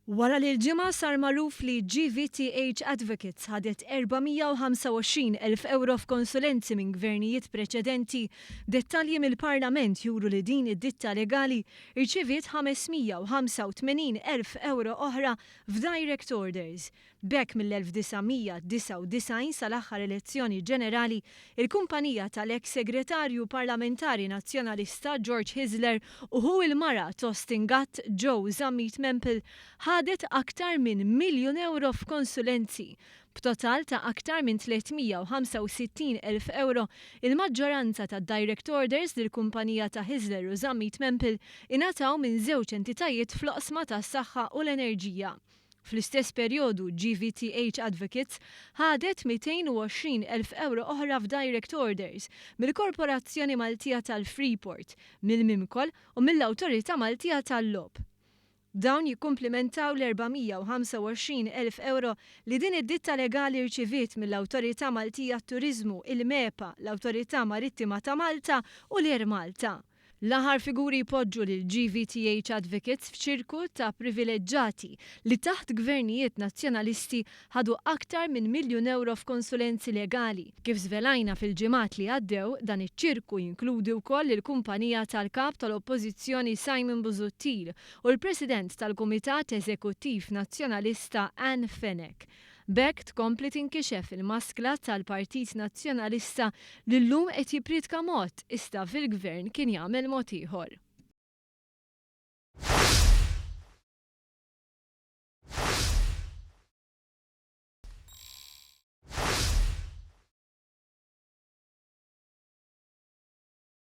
Wara li l-Ġimgħa sar magħruf li GVTH Advocates ħadet 425 elf ewro f'konsulenzi minn Gvernijiet preċedenti, dettalji mill-Parlament juru li din id-ditta legali rċiviet 585 elf ewro oħra f'direct orders. B'hekk mill-1999 sal-aħħar elezzjoni ġenerali, il-kumpanija tal-eks Segretarju Parlamentari Nazzjonalista George Hyzler u ħu il-mara Thorsten Gatt, Joe Zammit Mempel, ħadet aktar minn miljun ewro f'konsulenzi. B'total ta' aktar minn 365 elf ewro, il-maġġoranza tad-direct orders li l-kumpanija ta' Hyzler u Zammit Mempel ingħataw minn żewġ entitajiet fl-oqsma tas-saħħa u l-enerġija. Fl-istess perjodu, GVTH Advocates ħadet 220,000 ewro oħra f'direct orders mill-Korporazzjoni Maltija tal-Freeport, mill-Mimkol u mill-Awtorità Maltija tal-Logħob. Dawn jikkumplimentaw l-425,000 ewro li din id-ditta legali rċiviet mill-Awtorità Maltija għat-Turiżmu, il-MEPA, l-Awtorità Marittima ta' Malta u l-Air Malta. L-aħħar figuri jpoġġu lil GVTH Advocates f'ċirku ta' privileġġati li taħt gvernijiet Nazzjonalisti ħadu aktar minn miljun ewro f'konsulenzi legali. Kif żvelajna fil-ġimgħat li għaddew, dan iċ-ċirku jinkludi wkoll il-kumpanija tal-Kap tal-Oppożizzjoni Simon Busuttil u l-President tal-Kumitat Eżekuttiv Nazzjonalista Anne Fenech. B'hekk tkompli tinkixef il-maskla tal-Partit Nazzjonalista li llum qed jippriedka mod iżda fil-Gvern kien jagħmel mod ieħor.